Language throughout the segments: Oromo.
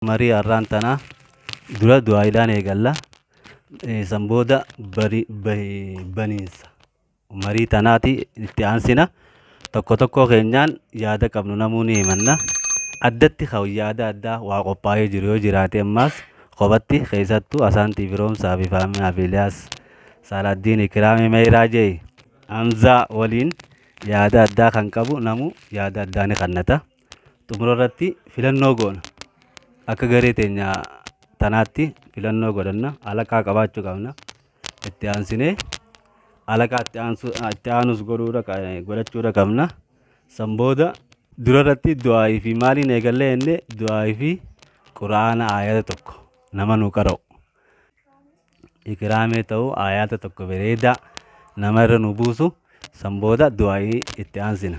Marii har'aan tanaa dura du'aa'iidhaan eegalla. Eh, San booda bari- bahi- baniinsa marii tanaati itti aansina. Tokko tokkoo keenyaan yaada qabnu namuu ni himanna. Addatti kan yaada addaa waa qophaa'ee jiru yoo jiraate ammaas kophatti keessattuu Asaantii Firoomsaa fi Faaminaa fi Iliyaas Saalaaddiin Ikiraamii Meeyiraa Jeey Hamzaa waliin yaada addaa kan qabu namuu yaada addaa ni kannata. xumura irratti filannoo goona akka garee teenya tanaatti filannoo godhanna alaqaa qabaachuu qabna itti aansinee alaqaa itti aansu- itti aanus godhuudha qa- godhachuudha qabna san booda dura irratti du'aa'ii fi maaliin eegallee inni du'aa'ii fi quraana aayata tokko nama nu qara'u ikiraamee ta'u aayata tokko bareedaa nama irra nu buusu san booda du'aa'ii itti aansina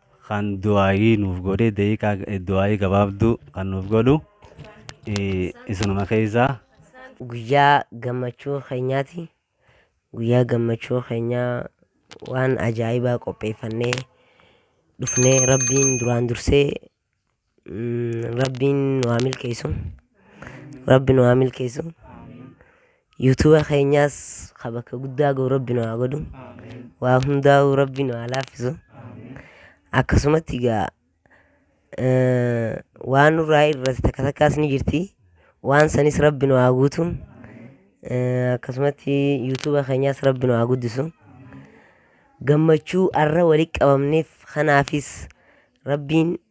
Kan du'aayii nuuf godhe daqiiqaa du'aayii gabaabduu kan nuuf godhu isinuma keessaa. Guyyaa gammachuu keenyaati. Guyyaa gammachuu keenyaa waan ajaa'ibaa qopheeffannee dhufnee rabbiin duraan dursee Mm, Rabbiin nu haa milkeessu. Rabbi nu haa milkeessu. Yuutuuba keenyaas ka bakka guddaa gahu Rabbi nu haa godhu. Waa hundaa'uu Rabbi nu haa laaffisu. Akkasumatti egaa eh, waan nurraa irratti takka takkaas ni jirti. Waan sanis Rabbi nu haa guutu. Eh, Akkasumatti yuutuuba keenyaas Rabbi nu haa guddisu. Gammachuu arra walitti qabamneef kanaafis Rabbiin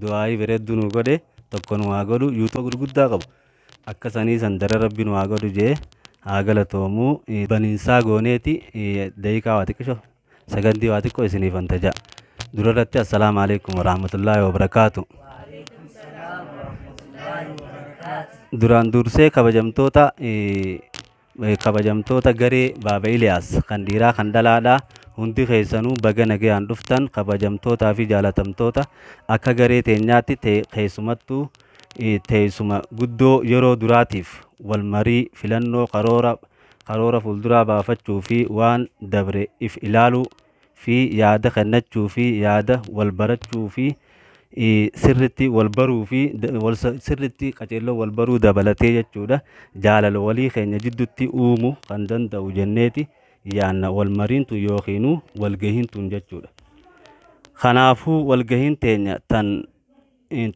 du'aayii bareedduu nuu godhe tokko nu haa godhu yuutuba gurguddaa qabu akka sanii san dara rabbi nu haa godhu jee haa galatoomu baniinsaa gooneeti daqiiqaa waa xiqqisho sagandii waa xiqqoo isiniif antajaa durarratti assalaamu alaikum warahmatullaahi wabarakaatu duraan dursee kabajamtoota Kabajamtoota garee Baaba Iliyaas kan dhiiraa kan dhalaadhaa hundi keessanuu baga nagayaan dhuftan kabajamtootaa fi jaalatamtoota akka garee teenyaatti te- keessumattuu eh, teessuma guddoo yeroo duraatiif wal marii filannoo karoora karoora fuulduraa baafachuu fi waan dabre if ilaaluu fi yaada kennachuu fi yaada wal barachuu fi sirritti wal baruu fi sirritti qaceelloo wal baruu dabalatee jechuudha jaalala walii keenya jiddutti uumu kan danda'u jenneeti yaanna wal mariintu yookiin walgahiintuun jechuudha. Kanaafuu walgahiin teenya tan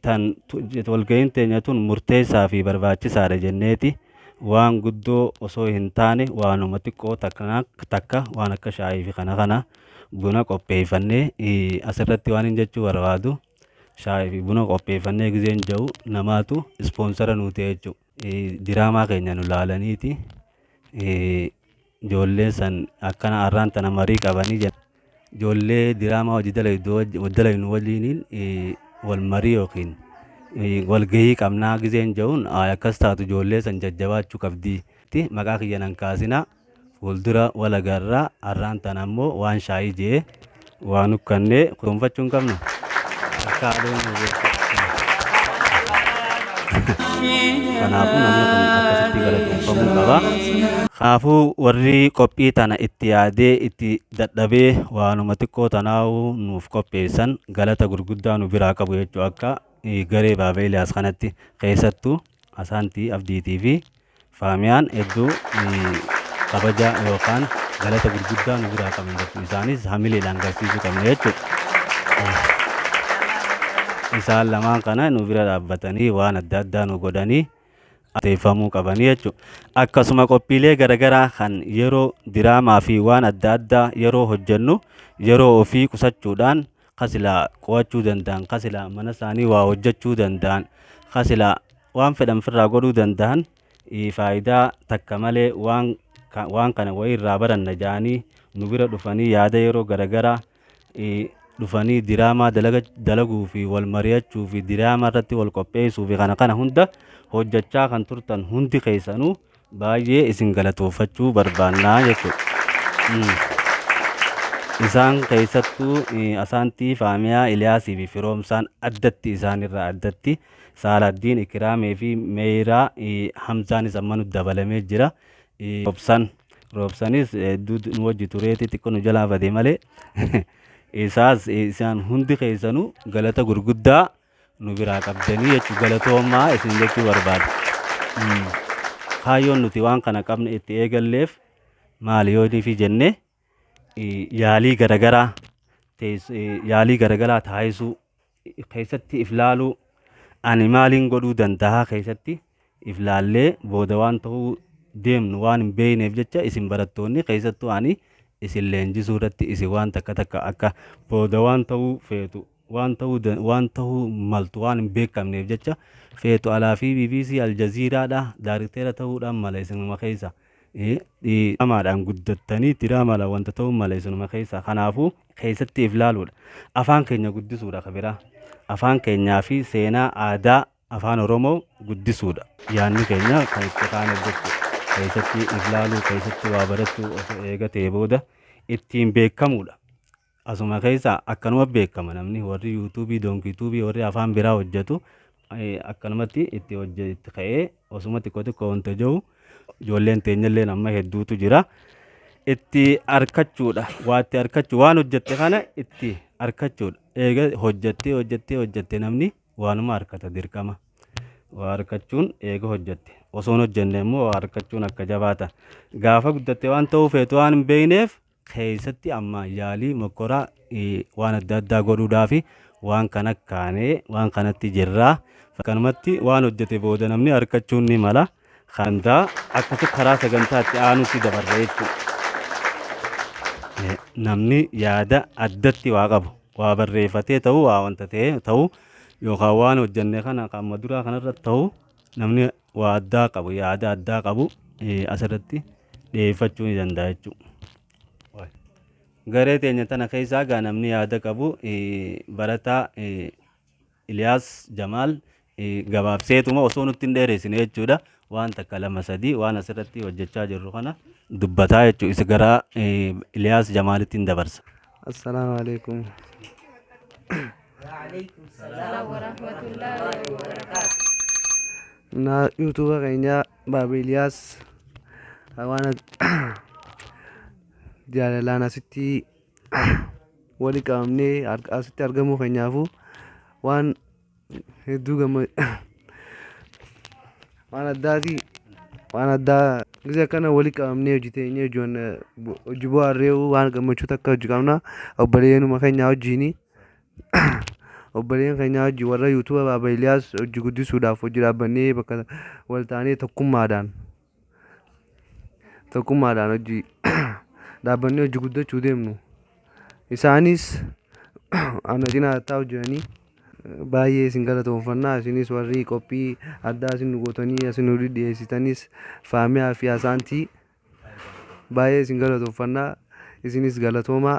tan walgahiin teenya tun murteessaa fi barbaachisaadha jenneeti waan guddoo osoo hin taane waanuma xiqqoo takka takka waan akka shaayii fi kana kana buna qopheeffannee eh, asirratti waan hin jechuu barbaadu shaayii fi buna qopheeffannee gizeen ja'u namaatu ispoonsara nuu ta'e jechuudha. Eh, diraamaa keenya nu laalaniiti eh, Ijoolleen san akkana arraan tana marii qabanii jedha. Ijoollee diraamaa hojii dalaydu waj- wal dalaynu waliiniin eh, wal marii yookiin eh, wal gahii qabnaa gizeen ja'uun "Ayi, akkas taatu ijoollee san jajjabaachuu qabdi. Ti, Maqaa kiyya nan kaasinaa fuuldura wal agarraa arraan tana ammoo waan shaayii je'e. Waan ukkanne kunuunfachuu hin qabnu. Akka aduun nu beeku. Kanaafuu namni kun akkasitti galatoomfamuu qaba. Kanaafuu warri qophii tana itti yaadee itti dadhabee waanuma xiqqoo tanaa'uu nuuf qopheessan galata gurguddaa nu biraa qabu jechuu akka eh, garee Baaba Eliyaas kanatti keessattuu Asaantii Abdiitii fi Faamiyaan hedduu kabaja yookaan galata gurguddaa nu biraa qaban jirtu. Isaanis hamileedhaan garsiisuu qabna jechuudha. Isaan lamaan kana nu bira dhaabbatanii waan adda addaa nu godhanii ateeffamuu qabanii jechuudha. Akkasuma qophiilee garaagaraa kan yeroo diraamaa fi waan adda addaa yeroo hojjennu yeroo ofii qusachuudhaan ka silaa qo'achuu danda'an, ka silaa mana isaanii waa hojjechuu danda'an, ka silaa waan fedhan firraa godhuu danda'an faayidaa takka malee waan, waan kana wayii irraa baranna ja'anii nu bira dhufanii yaada yeroo garagaraa dhufanii diraamaa dalaga, dalaguu fi wal mari'achuu fi diraamaa irratti wal qopheessuu fi kana kana hunda hojjechaa kan turtan hundi keessanuu baay'ee isin galatoofachuu barbaanna jechuudha. Isaan keessattuu Asaantii, Faamiyaa, Iliyaasii fi Firoomsaan addatti isaanirraa addatti Saaladdiin, Ikiraamee fi Meeyraa Hamzaanis ammanu dabalamee jira. Roobsan Roobsanis hedduu nu wajji tureeti xiqqoo nu jalaa bade malee isaas isaan hundi keessanuu galata gurguddaa nu biraa qabdanii jechuun galatoomaa isin jechuu barbaada. Kaayyoon nuti waan kana qabne itti eegalleef maali yoo fi jenne yaalii garagaraa yaalii garagaraa taasisuu keessatti if laaluu ani maaliin godhuu danda'a keessatti if laallee booda waan ta'uu deemnu waan hin beekneef jecha isin barattoonni keessattuu ani isin leenjisuu irratti isin waan takka takka akka booda waan ta'uu feetu waan ta'uu waan ta'uu maltu waan hin beekamneef jecha feetu alaa fi bbc aljaziiraadha daarikteera ta'uudhaan mala isinuma keessa diramaadhaan guddattanii diraamaadhaan wanta ta'uu mala isinuma keessa kanaafuu keessatti if laaluudha afaan keenya guddisuudha kabiraa afaan keenyaa fi seenaa aadaa Afaan Oromoo guddisuudha. Yaanni keenya kan itti kaan hojjechu keessatti if laaluu keessatti waa barachuu of eegatee booda ittiin beekamuudha. Asuma keessa akkanuma beekama namni warri yuutuubii doonkiituubii warri afaan biraa hojjetu akkanumatti itti hojje itti ka'ee osuma xiqqoo xiqqoo wanta jiru ijoolleen teenyalleen amma hedduutu jira. Itti arkachuudha waa itti arkachu waan hojjette kana itti arkachuudha. Eega hojjettee hojjettee hojjette namni Waanuma arkata dirqama. Waa arkachuun eega hojjatte. Osoon hojjanne immoo waa arkachuun akka jabaata. Gaafa guddatte waan ta'uu feetu waan hin beekneef keessatti amma yaalii mokkoraa waan adda addaa godhuudhaa fi waan kana kaanee waan kanatti jirraa. Kanumatti waan hojjete booda namni arkachuun ni mala. Handaa akkasi karaa sagantaa itti aanutti dabarra jechuudha. Namni yaada addatti waa qabu waa barreeffatee ta'uu waa wanta ta'ee ta'uu yookaan waan hojjenne kana qaama duraa kanarra ta'uu namni waa addaa qabu yaada addaa qabu asirratti dhiyeeffachuu ni danda'a jechuudha. Garee teenya tana keessaa gaa namni yaada qabu barataa Iliyaas Jamaal gabaabseetuma osoo nutti hin dheereessine jechuudha waan takka lama sadii waan asirratti hojjechaa jirru kana dubbataa jechuudha isa gara Iliyaas Jamaalittiin dabarsa. Assalaamu alaikum. Na yuutuuba keenya Baaba Iliyaas waan jaalalaan asitti wali qabamnee ar- asitti argamuu keenyaafuu waan hedduu gamma waan addaati waan addaa gisee akkana wali qabamnee hojii teenyee hojiiwwan eh, bu- hojii bu'aarree waan gammachuu takka hojii qabna obboleeyyanuma keenyaa hojiini obboleeyyan keenyaa hojii warra yuutuuba baaba Iliyaas hojii guddisuudhaaf hojii dhaabbannee bakka wal taanee tokkummaadhaan tokkummaadhaan hojii dhaabbanni hojii guddachuu deemnu isaanis ana cinaa hattaa hojjetanii baay'ee isin galatoomfannaa isinis warri qophii addaa isin nu gootanii isin nu dhiyeessitanis faamiyaa fi asaantii baay'ee isin galatoomfannaa isinis galatoomaa.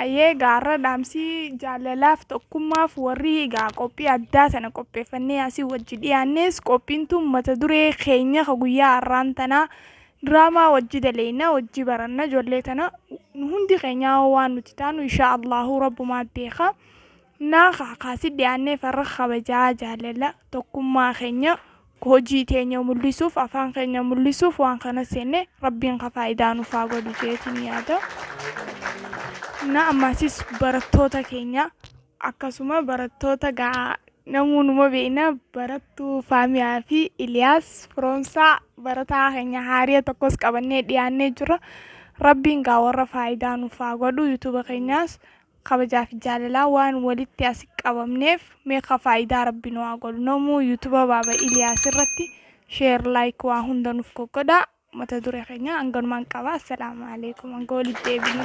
Hayyee egaa har'a dhaamsi jaalalaaf tokkummaaf warri egaa qophii addaa sana qopheeffannee asii wajji dhiyaannes qophiin tun mata duree keenya ka guyyaa har'aan tanaa diraamaa wajji daleeyna wajji baranna ijoollee tana nu hundi keenyaa waan nuti taanu inshaa Allahu rabbumaa beeka. Naa kaakaa si dhiyaannee farra kabajaa jaalala tokkummaa keenya hojii teenya mul'isuuf afaan keenya mul'isuuf waan kana seenne rabbiin ka faayidaa nuuf haa godhu jeetiin yaada. Na ammaasis barattoota keenya akkasuma barattoota gaa namuu numa beekna barattuu Faamiyaa fi Iliyaas Firoomsaa barataa keenya haariya tokkos qabannee dhiyaannee jirra. Rabbiin gaa warra faayidaa nuuf haa godhu yuutuuba keenyaas kabajaa fi jaalalaa waan walitti asi qabamneef mee ka faayidaa rabbi nu haa godhu namuu yutuba baaba iliyaas irratti sheer laayik waa hunda nuf goggodha mata dure keenya hanganumaan qaba assalaamu alaikum hanga walitti deebinu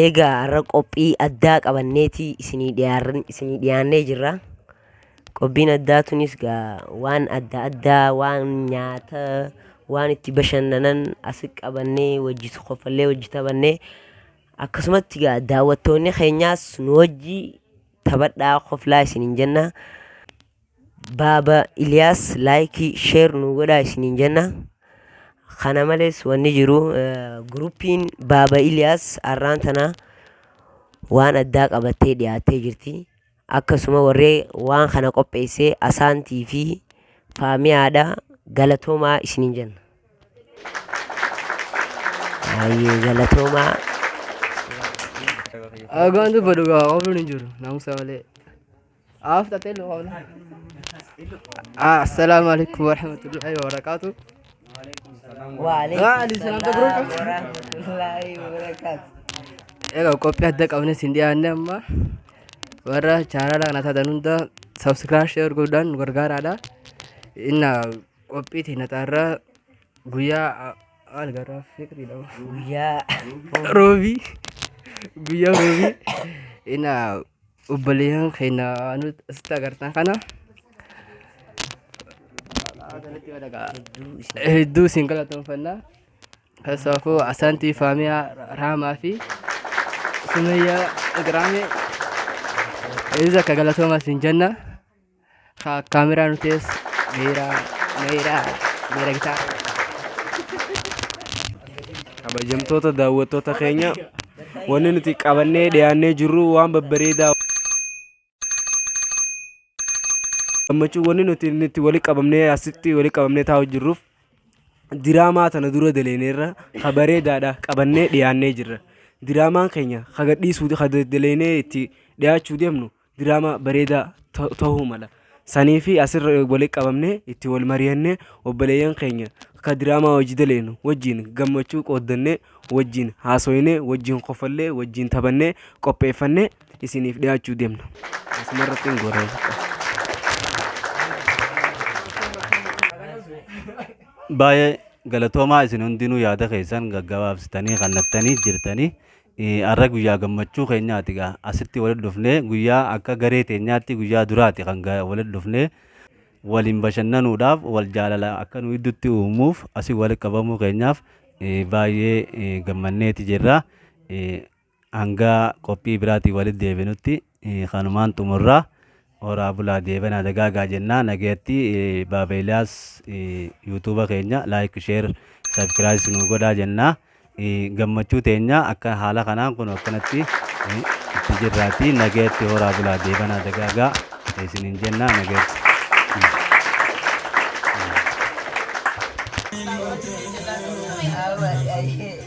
Eegaa har'a qophii addaa qabanneeti isinii dhiyaarran- isinii dhiyaannee jirra. Qophiin addaa tunis gaa waan adda addaa waan nyaata waan itti bashannanan as qabannee wajji kofallee wajji taphannee akkasumatti gaa daawwattoonni keenyaas nu wajji taphadhaa koflaa isiniin jenna. Baaba Iliyaas laayikii sheer nu godhaa isiniin jenna. Kana malees wanni jiru guruppiin Baaba Iliyaas har'aan tana waan addaa qabattee dhiyaattee jirti. Akkasuma warree waan kana qopheessee Asaantii fi Faamiyaadha galatoomaa isiniin jenna. Baay'ee galatoomaa. Agaan dubbadhu gaa ooluun hin jiru naamusa malee. Aaf tatee loona. Assalaamu alaikum warahmatullahi wabarakatuh. Waalaikumsalam warahmatullahi wabarakatuh. Egaa qophii adda qabne siin dhiyaanne amma warra chaanala kana taatan hunda sabskiraayib sheer godhaan nu gargaaraadha. Inna qophii teenya xaarraa guyyaa maal garraa fiqriidha. Guyyaa Roobii guyyaa roobii inna obboleeyyan keenya nuti asitti agartan kana hedduu isin galatoomfanna keessaafuu asaantii faamiyaa raamaa fi sumayyaa igraame hedduu akka galatoomaa isin jenna Haa kaameraa nu tees meeraa meeraa meera gitaa. Kabajamtoota daawwattoota keenya wanni nuti qabannee dhiyaannee jirru waan babbareedaa gammachuu wanni nuti nuti wali qabamnee asitti wali qabamnee taa'u jirruuf diraamaa tana dura daleeneerra ha bareedaadha qabannee dhiyaannee jirra. Diraamaan keenya ha gadhiisuu ha daleenee itti dhiyaachuu deemnu diraamaa bareedaa ta- ta'uu mala. Sanii fi asirra walitti qabamnee itti wal mari'annee obboleeyyan keenya akka diraamaa hojii daleenu wajjin gammachuu qooddannee wajjin haasoynee wajjin kofallee wajjin taphannee qopheeffannee isiniif dhiyaachuu deemna. Asumarratti hin goolaa. baay'ee galatoomaa isin hundinuu yaada keessan gaggabaabsitanii kannattanii jirtanii Arra guyyaa gammachuu keenyaati gaa asitti walitti dhufnee guyyaa akka garee teenyaatti guyyaa duraati kan ga- walitti dhufnee waliin bashannanuudhaaf wal jaalala akka nu gidduutti uumuuf asii walitti qabamuu keenyaaf eh, baay'ee eh, gammanneeti jirra. Eh, Hanga qophii biraatiin walitti deebinutti Kanumaan xumurra. Horaa bulaa deebanaa dagaagaa jennaa nagayatti Baaba Eliyaas yuutuuba keenya like share subscribe nu godhaa jennaa gammachuu teenya akka haala kanaan kun akkanatti itti jirraati nagayatti horaa bulaa deebanaa dagaagaa isiniin jennaa nagayatti. Thank you.